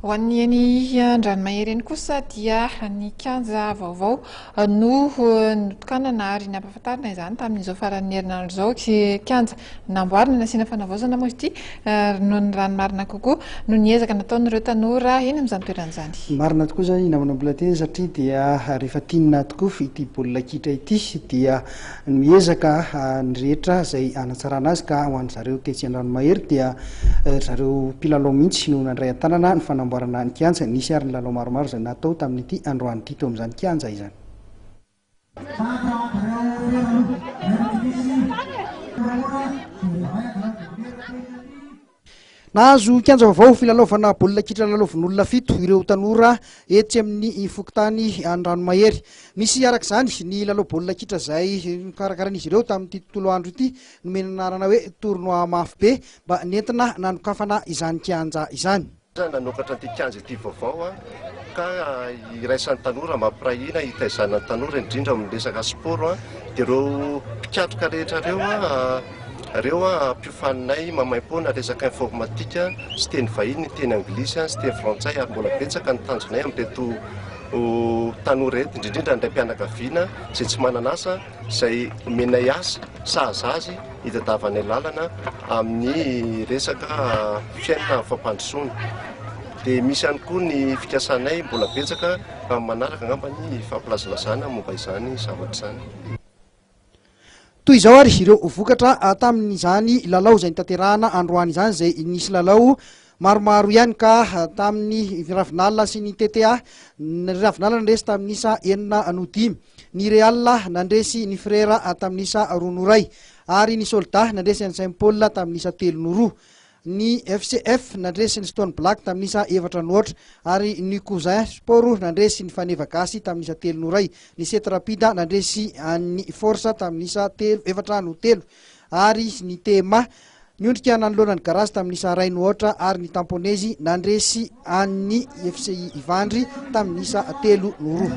Ho an'ny eny Andranomahery eny kosa dia ny kianja vaovao no notokanana ary nampahafantarina izany tamin'izao faran'ny herinandro izao. Kianja namboarina nasiana fanavaozana moa ity ary noho ny rano marina kokoa no niezaka nataon'ireo tanora eny amin'izany toerana izany. Marina tokoa izany namana mbola teny satria dia rehefa tianina tokoa ity baolina kitra ity dia Miezaka ny rehetra izay hanatsarana azy ka ho an'ny zareo tetsy Andranomahery dia ry zareo mpilalao mihitsy no nandray an-tanana ny fanamboarana ny kianja. Nisy ary ny lalao maromaro izay natao tamin'ity androany ity teo amin'izany kianja izany. Nahazo kianja vaovao filalaovana baolina kitra lalaovin'olona fito ireo tanora etsy amin'ny fokontany Andranomahery. Nisy araka izany ny lalao baolina kitra izay nokarakarain'izy ireo tamin'ity tontolo andro ity, nomena anarana hoe Tournoi Mafy Be mba nentina nanokafana izany kianja izany. Nanokatra ity kianja ity vaovao ka iraisan'ny tanora mba hampiray hina hitaizana ny tanora indrindra amin'ny resaka sport dia ireo mpikatroka rehetra ireo ireo mpiofaninay mamaim-poana resaka informatika sy teny vahiny, teny anglisy sy teny frantsay ary mbola betsaka ny tanjonay amin'ireto tanora eto indrindra indray mpianakaviana izay tsy manana asa. izay omenay asa sahaza azy hitadiavanay lalana amin'ny resaka fiainana fampandrosoana. Dia misy ihany koa ny fikasanay mbola betsaka amin'ny manaraka angamba ny fampilazalazana momba izany zavatra izany. Toy izao ary ireo vokatra tamin'izany lalao izay notanterahana androany izany izay nisy lalao Maromaro ihany ka tamin'ny Ravinala sy ny TTA ny Ravinala nandresy tamin'ny isa enina no dimy, ny Real nandresy ny Frera tamin'ny isa roa no iray, ary ny Soldats nandresy an'i Saint Paul tamin'ny isa telo no roa. Ny FCF nandresy ny Stone Black tamin'ny isa efatra no aotra, ary ny Cousin Sport nandresy ny Faneva Gasy tamin'ny isa telo no iray. Ny Sety Rapide nandresy an'ny Force tamin'ny isa telo, efatra no telo, ary ny TMA Niondrika nanoloana ny garazy tamin'ny isa iray no aotra ary ny tamponezy nandresy an'ny FCI Ivandry tamin'ny isa telo no roa.